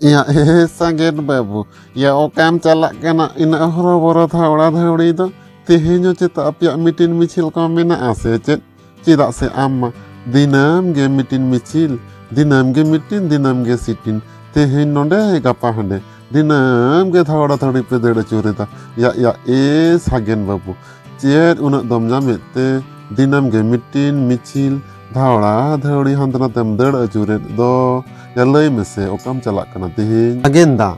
ᱤᱧᱟᱹᱜ ᱦᱮ ᱥᱟᱜᱮᱱ ᱵᱟᱹᱵᱩ ᱭᱟ ᱚᱠᱟᱢ ᱪᱟᱞᱟᱜ ᱠᱟᱱᱟ ᱤᱱᱟᱹᱜ ᱦᱚᱨᱚᱵᱚᱨᱚ ᱫᱷᱟᱣᱲᱟ ᱫᱷᱟᱹᱣᱲᱤ ᱫᱚ ᱛᱮᱦᱮᱧ ᱦᱚᱸ ᱪᱮᱛᱟ ᱟᱯᱮᱭᱟᱜ ᱢᱤᱴᱤᱝ ᱢᱤᱪᱷᱤᱞ ᱠᱚ ᱢᱮᱱᱟᱜᱼᱟ ᱥᱮ ᱪᱮᱫ ᱪᱮᱫᱟᱜ ᱥᱮ ᱟᱢ ᱢᱟ ᱫᱤᱱᱟᱹᱢ ᱜᱮ ᱢᱤᱴᱤᱱ ᱢᱤᱪᱷᱤᱞ ᱫᱤᱱᱟᱹᱢ ᱜᱮ ᱢᱤᱴᱤᱱ ᱫᱤᱱᱟᱹᱢ ᱜᱮ ᱥᱤᱴᱤᱱ ᱛᱮᱦᱮᱧ ᱱᱚᱰᱮ ᱜᱟᱯᱟ ᱦᱟᱸᱰᱮ ᱫᱤᱱᱟᱹᱢ ᱜᱮ ᱫᱷᱟᱣᱲᱟ ᱫᱷᱟᱹᱲᱤ ᱯᱮ ᱫᱟᱹᱲ ᱟᱹᱪᱩᱨᱮᱫᱟ ᱭᱟ ᱭᱟ ᱮ ᱥᱟᱜᱮᱱ ᱵᱟᱹᱵᱩ ᱪᱮᱫ ᱩᱱᱟᱹᱜ ᱫᱚᱢ ᱧᱟᱢᱮᱫ ᱛᱮ ᱫᱤᱱᱟᱹᱢ ᱜᱮ ᱢᱤᱴᱤᱱ ᱢᱤᱪᱷᱤᱞ ᱫᱷᱟᱣᱲᱟ ᱫᱷᱟᱹᱲᱤ ᱦᱟᱱᱛᱮ ᱱᱟᱛᱮᱢ ᱫᱟᱹᱲ ᱟᱹᱪᱩᱨᱮᱫ ᱫᱚ ᱭᱟ ᱞᱟᱹᱭ ᱢᱮᱥᱮ ᱚᱠᱟᱢ ᱪᱟᱞᱟᱜ ᱠᱟᱱᱟ ᱛᱮᱦᱮᱧ ᱥᱟᱜᱮᱱ ᱫᱟ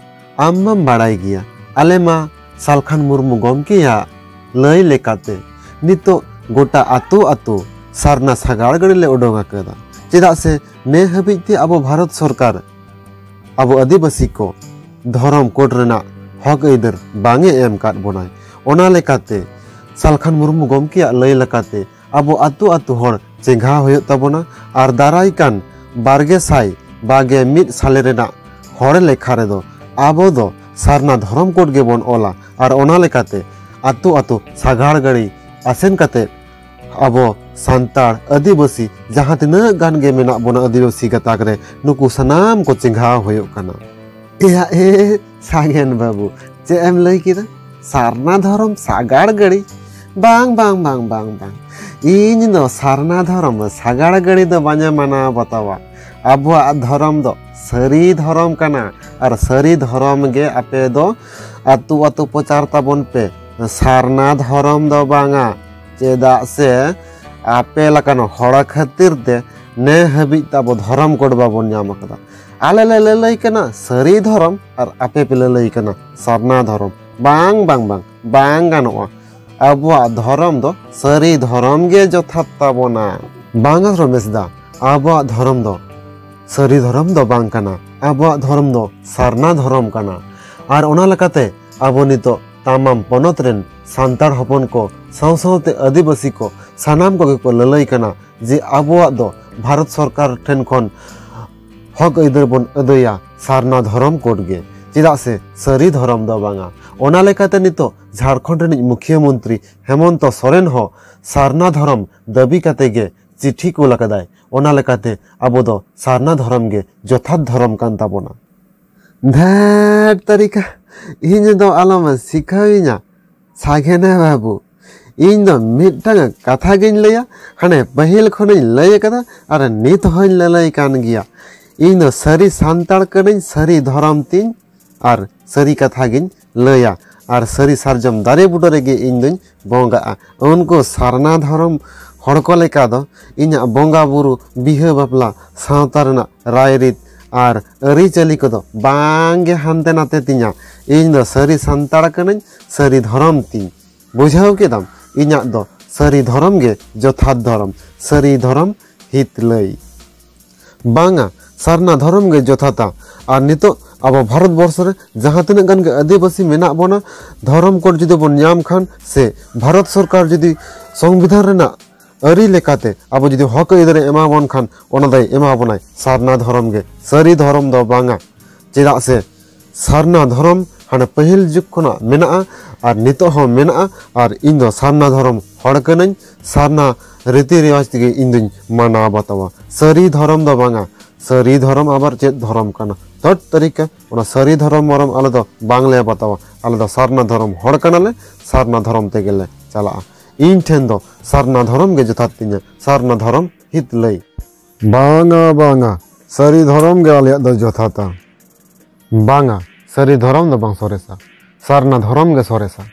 ᱟᱢ ᱢᱟᱢ ᱵᱟᱲᱟᱭ ᱜᱮᱭᱟ ᱟᱞᱮ ᱢᱟ ᱥᱟᱞᱠᱷᱟᱱ ᱢᱩᱨᱢᱩ ᱜᱚᱢᱠᱮᱭᱟᱜ ᱞᱟᱹᱭ ᱞᱮᱠᱟᱛᱮ ᱱᱤᱛᱚᱜ ᱜᱚᱴᱟ ᱟᱛᱳ ᱟᱛᱳ ᱥᱟᱨᱱᱟ ᱥᱟᱜᱟᱲ ᱜᱟᱹᱰᱤ ᱞᱮ ᱩᱰᱩᱝ ᱟᱠᱟᱫᱟ ᱪᱮᱫᱟᱜ ᱥᱮ ᱱᱮ ᱦᱟᱹᱵᱤᱡ ᱛᱮ ᱟᱵᱚ ᱵᱷᱟᱨᱚᱛ ᱥᱚᱨᱠᱟᱨ ᱟᱵᱚ ᱟᱹᱫᱤᱵᱟᱹᱥᱤ ᱠᱚ ᱫᱷᱚᱨᱚᱢ ᱠᱳᱰ ᱨᱮᱱᱟᱜ ᱦᱚᱠ ᱟᱹᱭᱫᱟᱹᱨ ᱵᱟᱝᱮ ᱮᱢ ᱟᱠᱟᱫ ᱵᱚᱱᱟᱭ ᱚᱱᱟ ᱞᱮᱠᱟᱛᱮ ᱥᱟᱞᱠᱷᱟᱱ ᱢᱩᱨᱢᱩ ᱜᱚᱢᱠᱮᱭᱟᱜ ᱞᱟᱹᱭ ᱞᱮᱠᱟᱛᱮ ᱟᱵᱚ ᱟᱛᱳ ᱟᱛᱳ ᱦᱚᱲ ᱪᱮᱸᱜᱷᱟ ᱦᱩᱭᱩᱜ ᱛᱟᱵᱚᱱᱟ ᱟᱨ ᱫᱟᱨᱟᱭ ᱠᱟᱱ ᱵᱟᱨᱜᱮ ᱥᱟᱭ ᱵᱟᱜᱮ ᱢᱤᱫ ᱥᱟᱞᱮ ᱨᱮᱱᱟᱜ ᱦᱚᱲ ᱞᱮᱠᱷᱟ ᱨᱮᱫᱚ ᱟᱵᱚ ᱫᱚ ᱥᱟᱨᱱᱟ ᱫᱷᱚᱨᱚᱢ ᱠᱳᱰ ᱜᱮᱵᱚᱱ ᱚᱞᱟ ᱟᱨ ᱚᱱᱟ ᱞᱮᱠᱟᱛᱮ ᱟᱛᱳ ᱟᱛᱳ ᱥᱟᱜᱟᱲ ᱜᱟᱹᱲᱤ ᱟᱥᱮᱱ ᱠᱟᱛᱮ ᱟᱵᱚ ᱥᱟᱱᱛᱟᱲ ᱟᱹᱫᱤᱵᱟᱹᱥᱤ ᱡᱟᱦᱟᱸ ᱛᱤᱱᱟᱹᱜ ᱜᱟᱱ ᱜᱮ ᱢᱮᱱᱟᱜ ᱵᱚᱱᱟ ᱟᱹᱫᱤᱵᱟᱹᱥᱤ ᱜᱟᱛᱟᱠ ᱨᱮ ᱱᱩᱠᱩ ᱥᱟᱱᱟᱢ ᱠᱚ ᱪᱮᱸᱜᱷᱟᱣ ᱦᱩᱭᱩᱜ ᱠᱟᱱᱟ ᱮᱭᱟ ᱮ ᱥᱟᱜᱮᱱ ᱵᱟᱹᱵᱩ ᱪᱮᱫ ᱮᱢ ᱞᱟᱹᱭ ᱠᱮᱫᱟ ᱥᱟᱨᱱᱟ ᱫᱷᱚᱨᱚᱢ ᱥᱟᱜᱟᱲ ᱜᱟᱹᱲᱤ ᱵᱟᱝ ᱵᱟᱝ ᱵᱟᱝ ᱵᱟᱝ ᱵᱟᱝ ᱤᱧ ᱫᱚ ᱥᱟᱨᱱᱟ ᱫᱷᱚᱨᱚᱢ ᱥᱟᱜᱟᱲ ᱜᱟᱹᱲᱤ ᱫᱚ ᱵᱟᱹᱧ ᱢᱟᱱᱟᱣ ᱵᱟᱛᱟᱣᱟ ᱟᱵᱚᱣᱟᱜ ᱫᱷᱚᱨᱚᱢ ᱫᱚ ᱥᱟᱹᱨᱤ ᱫᱷᱚᱨᱚᱢ ᱠᱟᱱᱟ ᱟᱨ ᱥᱟᱹᱨᱤ ᱫᱷᱚᱨᱚᱢ ᱜᱮ ᱟᱯᱮ ᱫᱚ ᱟᱛᱳ ᱟᱛᱳ ᱯᱨᱚᱪᱟᱨ ᱛᱟᱵᱚᱱ ᱯᱮ ᱥᱟᱨᱱᱟ ᱫᱷᱚᱨᱚᱢ ᱫᱚ ᱵᱟᱝᱟ ᱪᱮᱫᱟᱜ ᱥᱮ ᱟᱯᱮ ᱞᱮᱠᱟᱱ ᱦᱚᱲ ᱠᱷᱟᱹᱛᱤᱨ ᱛᱮ ᱱᱮ ᱦᱟᱹᱵᱤᱡ ᱛᱟᱵᱚ ᱫᱷᱚᱨᱚᱢ ᱠᱳᱰ ᱵᱟᱵᱚᱱ ᱧᱟᱢ ᱟᱠᱟᱫᱟ ᱟᱞᱮ ᱞᱮ ᱞᱟᱹᱞᱟᱹᱭ ᱠᱟᱱᱟ ᱥᱟᱹᱨᱤ ᱫᱷᱚᱨᱚᱢ ᱟᱨ ᱟᱯᱮ ᱯᱮ ᱞᱟᱹᱞᱟᱹᱭ ᱠᱟᱱᱟ ᱥᱟᱨᱱᱟ ᱫᱷᱚᱨᱚᱢ ᱵᱟᱝ ᱵᱟᱝ ᱵᱟᱝ ᱵᱟᱝ ᱜᱟᱱᱚᱜᱼᱟ ᱟᱵᱚᱣᱟᱜ ᱫᱷᱚᱨᱚᱢ ᱫᱚ ᱥᱟᱹᱨᱤ ᱫᱷᱚᱨᱚᱢ ᱜᱮ ᱡᱚᱛᱷᱟᱛ ᱛᱟᱵᱚᱱᱟ ᱵᱟᱝᱟ ᱨᱚᱢᱮᱥ ᱫᱟ ᱟᱵᱚᱣᱟᱜ ᱫᱷᱚᱨᱚᱢ ᱫᱚ ᱥᱟᱹᱨᱤ ᱫᱷᱚᱨᱚᱢ ᱫᱚ ᱵᱟᱝ ᱠᱟᱱᱟ ᱟᱵᱚᱣᱟᱜ ᱫᱷᱚᱨᱚᱢ ᱫᱚ ᱥᱟᱨᱱᱟ ᱫᱷᱚᱨᱚᱢ ᱠᱟᱱᱟ ᱟᱨ ᱚᱱᱟ ᱞᱮᱠᱟᱛᱮ ᱟᱵᱚ ᱱᱤᱛᱚᱜ ᱛᱟᱢᱟᱢ ᱯᱚᱱᱚᱛ ᱨᱮᱱ ᱥᱟᱱᱛᱟᱲ ᱦᱚᱯᱚᱱ ᱠᱚ ᱥᱟᱶ ᱥᱟᱶᱛᱮ ᱟᱹᱫᱤᱵᱟᱹᱥᱤ ᱠᱚ ᱥᱟᱱᱟᱢ ᱠᱚᱜᱮ ᱠᱚ ᱞᱟᱹᱞᱟᱹᱭ ᱠᱟᱱᱟ ᱡᱮ ᱟᱵᱚᱣᱟᱜ ᱫᱚ ᱵᱷᱟᱨᱚᱛ ᱥᱚᱨᱠᱟᱨ ᱴᱷᱮᱱ ᱠᱷᱚᱱ ᱦᱚᱠ ᱟᱹᱭᱫᱟᱹᱨ ᱵᱚᱱ ᱟᱹᱫᱟᱹᱭᱟ ᱥᱟᱨᱱᱟ ᱫᱷᱚᱨᱚᱢ ᱠᱳᱰ ᱜᱮ ᱪᱮᱫᱟᱜ ᱥᱮ ᱥᱟᱹᱨᱤ ᱫᱷᱚᱨᱚᱢ ᱫᱚ ᱵᱟᱝᱟ ᱚᱱᱟ ᱞᱮᱠᱟᱛᱮ ᱱᱤᱛᱚᱜ ᱡᱷᱟᱲᱠᱷᱚᱸᱰ ᱨᱤᱱᱤᱡ ᱢᱩᱠᱷᱤᱭᱟᱹ ᱢᱚᱱᱛᱨᱤ ᱦᱮᱢᱚᱱᱛᱚ ᱥᱚᱨᱮᱱ ᱦᱚᱸ ᱥᱟᱨᱱᱟ ᱫᱷᱚᱨᱚᱢ ᱫᱟᱹᱵᱤ ᱠᱟᱛᱮ ᱜᱮ ᱪᱤᱴᱷᱤ ᱠᱩᱞ ᱟᱠᱟᱫᱟᱭ ᱚᱱᱟ ᱞᱮᱠᱟᱛᱮ ᱟᱵᱚ ᱫᱚ ᱥᱟᱨᱱᱟ ᱫᱷᱚᱨᱚᱢ ᱜᱮ ᱡᱚᱛᱷᱟᱛ ᱫᱷᱚᱨᱚᱢ ᱠᱟᱱ ᱛᱟᱵᱚᱱᱟ ᱫᱷᱮᱴ ᱛᱟᱹᱨᱤᱠᱟ ᱤᱧ ᱫᱚ ᱟᱞᱚᱢ ᱥᱤᱠᱷᱟᱹᱣᱤᱧᱟ ᱥᱟᱜᱮᱱᱟ ᱵᱟᱹᱵᱩ ᱤᱧ ᱫᱚ ᱢᱤᱫᱴᱟᱝ ᱠᱟᱛᱷᱟ ᱜᱤᱧ ᱞᱟᱹᱭᱟ ᱦᱟᱱᱮ ᱯᱟᱹᱦᱤᱞ ᱠᱷᱚᱱᱤᱧ ᱞᱟᱹᱭ ᱟᱠᱟᱫᱟ ᱟᱨ ᱱᱤᱛ ᱦᱚᱸᱧ ᱞᱟᱹᱞᱟᱹᱭ ᱠᱟᱱ ᱜᱮᱭᱟ ᱤᱧ ᱫᱚ ᱥᱟᱹᱨᱤ ᱥᱟᱱᱛᱟᱲ ᱠᱟᱹᱱᱟᱹᱧ ᱥᱟᱹᱨᱤ ᱫᱷᱚᱨᱚᱢ ᱛᱤᱧ ᱟᱨ ᱥᱟᱹᱨᱤ ᱠᱟᱛᱷᱟ ᱜᱤᱧ ᱞᱟᱹᱭᱟ ᱟᱨ ᱥᱟᱹᱨᱤ ᱥᱟᱨᱡᱚᱢ ᱫᱟᱨᱮ ᱵᱩᱴᱟᱹ ᱨᱮᱜᱮ ᱤᱧ ᱫᱚᱧ ᱵᱚᱸᱜᱟᱜᱼᱟ ᱩᱱᱠᱩ ᱥᱟᱨᱱᱟ ᱫᱷᱚᱨᱚᱢ ᱦᱚᱲ ᱠᱚ ᱞᱮᱠᱟ ᱫᱚ ᱤᱧᱟᱹᱜ ᱵᱚᱸᱜᱟ ᱵᱩᱨᱩ ᱵᱤᱦᱟᱹ ᱵᱟᱯᱞᱟ ᱥᱟᱶᱛᱟ ᱨᱮᱱᱟᱜ ᱨᱟᱭᱨᱤᱛ ᱟᱨ ᱟᱹᱨᱤᱪᱟᱹᱞᱤ ᱠᱚᱫᱚ ᱵᱟᱝᱜᱮ ᱦᱟᱱᱛᱮ ᱱᱟᱛᱮ ᱛᱤᱧᱟ ᱤᱧ ᱫᱚ ᱥᱟᱹᱨᱤ ᱥᱟᱱᱛᱟᱲ ᱠᱟᱹᱱᱟᱹᱧ ᱥᱟᱹᱨᱤ ᱫᱷᱚᱨᱚᱢ ᱛᱤᱧ ᱵᱩᱡᱷᱟᱹᱣ ᱠᱮᱫᱟᱢ ᱤᱧᱟᱹᱜ ᱫᱚ ᱥᱟᱹᱨᱤ ᱫᱷᱚᱨᱚᱢ ᱜᱮ ᱡᱚᱛᱷᱟᱛ ᱫᱷᱚᱨᱚᱢ ᱥᱟᱹᱨᱤ ᱫᱷᱚᱨᱚᱢ ᱦᱤᱛ ᱞᱟᱹᱭ ᱵᱟᱝᱟ ᱥᱟᱨᱱᱟ ᱫᱷᱚᱨᱚᱢ ᱜᱮ ᱡᱚᱛᱷᱟᱛᱟ ᱟᱨ ᱱᱤᱛᱚᱜ ᱟᱵᱚ ᱵᱷᱟᱨᱚᱛ ᱵᱚᱨᱥᱚ ᱨᱮ ᱡᱟᱦᱟᱸ ᱛᱤᱱᱟᱹᱜ ᱜᱟᱱ ᱜᱮ ᱟᱹᱫᱤᱵᱟᱹᱥᱤ ᱢᱮᱱᱟᱜ ᱵᱚᱱᱟ ᱫᱷᱚᱨᱚᱢ ᱠᱳᱰ ᱡᱩᱫᱤ ᱵᱚᱱ ᱧᱟᱢ ᱠᱷᱟᱱ ᱥᱮ ᱵᱷᱟᱨᱚᱛ ᱥᱚᱨᱠᱟᱨ ᱡᱩᱫᱤ ᱥᱚᱝᱵᱤᱫᱷᱟᱱ ᱨᱮᱱᱟᱜ ᱟᱹᱨᱤ ᱞᱮᱠᱟᱛᱮ ᱟᱵᱚ ᱡᱩᱫᱤ ᱦᱚᱠ ᱟᱹᱭᱫᱟᱹᱨᱮ ᱮᱢᱟ ᱵᱚᱱ ᱠᱷᱟᱱ ᱚᱱᱟ ᱫᱚᱭ ᱮᱢᱟ ᱵᱚᱱᱟᱭ ᱥᱟᱨᱱᱟ ᱫᱷᱚᱨᱚᱢ ᱜᱮ ᱥᱟᱹᱨᱤ ᱫᱷᱚᱨᱚᱢ ᱫᱚ ᱵᱟᱝᱟ ᱪᱮᱫᱟᱜ ᱥᱮ ᱥᱟᱨᱱᱟ ᱫᱷᱚᱨᱚᱢ ᱦᱟᱱᱮ ᱯᱟᱹᱦᱤᱞ ᱡᱩᱜᱽ ᱠᱷᱚᱱᱟᱜ ᱢᱮᱱᱟᱜᱼᱟ ᱟᱨ ᱱᱤᱛᱚᱜ ᱦᱚᱸ ᱢᱮᱱᱟᱜᱼᱟ ᱟᱨ ᱤᱧ ᱫᱚ ᱥᱟᱨᱱᱟ ᱫᱷᱚᱨᱚᱢ ᱦᱚᱲ ᱠᱟᱹᱱᱟᱹᱧ ᱥᱟᱨᱱᱟ ᱨᱤᱛᱤ ᱨᱮᱣᱟᱡᱽ ᱛᱮᱜᱮ ᱤᱧ ᱫᱩᱧ ᱢᱟᱱᱟᱣ ᱵᱟᱛᱟᱣᱟ ᱥᱟᱹᱨᱤ ᱫᱷᱚᱨᱚᱢ ᱫᱚ ᱵᱟᱝᱟ ᱥᱟᱹᱨᱤ ᱫᱷᱚᱨᱚᱢ ᱟᱵᱟᱨ ᱪᱮᱫ ᱫᱷᱚᱨᱚᱢ ᱠᱟᱱᱟ ᱛᱚᱴ ᱛᱟᱹᱨᱤᱠᱟ ᱚᱱᱟ ᱥᱟᱹᱨᱤ ᱫᱷᱚᱨᱚᱢ ᱢᱚᱨᱚᱢ ᱟᱞᱮ ᱫᱚ ᱵᱟᱝᱞᱮ ᱵᱟᱛᱟᱣᱟ ᱟᱞᱮ ᱫᱚ ᱥᱟᱨᱱᱟ ᱫᱷᱚᱨᱚᱢ ᱦᱚᱲ ᱠᱟᱱᱟᱞᱮ ᱥᱟᱨᱱᱟ ᱫᱷᱚᱨᱚᱢ ᱛᱮᱜᱮᱞᱮ ᱪᱟᱞᱟᱜᱼᱟ ᱤᱧ ᱴᱷᱮᱱ ᱫᱚ ᱥᱟᱨᱱᱟ ᱫᱷᱚᱨᱚᱢ ᱜᱮ ᱡᱚᱛᱷᱟᱛ ᱛᱤᱧᱟ ᱥᱟᱨᱱᱟ ᱫᱷᱚᱨᱚᱢ ᱦᱤᱛ ᱞᱟᱹᱭ ᱵᱟᱝᱟ ᱵᱟᱝᱟ ᱥᱟᱹᱨᱤ ᱫᱷᱚᱨᱚᱢ ᱜᱮ ᱟᱞᱮᱭᱟᱜ ᱫᱚ ᱡᱚᱛᱷᱟᱛᱟ ᱵᱟᱝᱟ ᱥᱟᱹᱨᱤ ᱫᱷᱚᱨᱚᱢ ᱫᱚ ᱵᱟᱝ ᱥᱚᱨᱮᱥᱟ ᱥᱟᱨᱱᱟ ᱫᱷᱚᱨᱚᱢ ᱜᱮ ᱥᱚᱨᱮᱥᱟ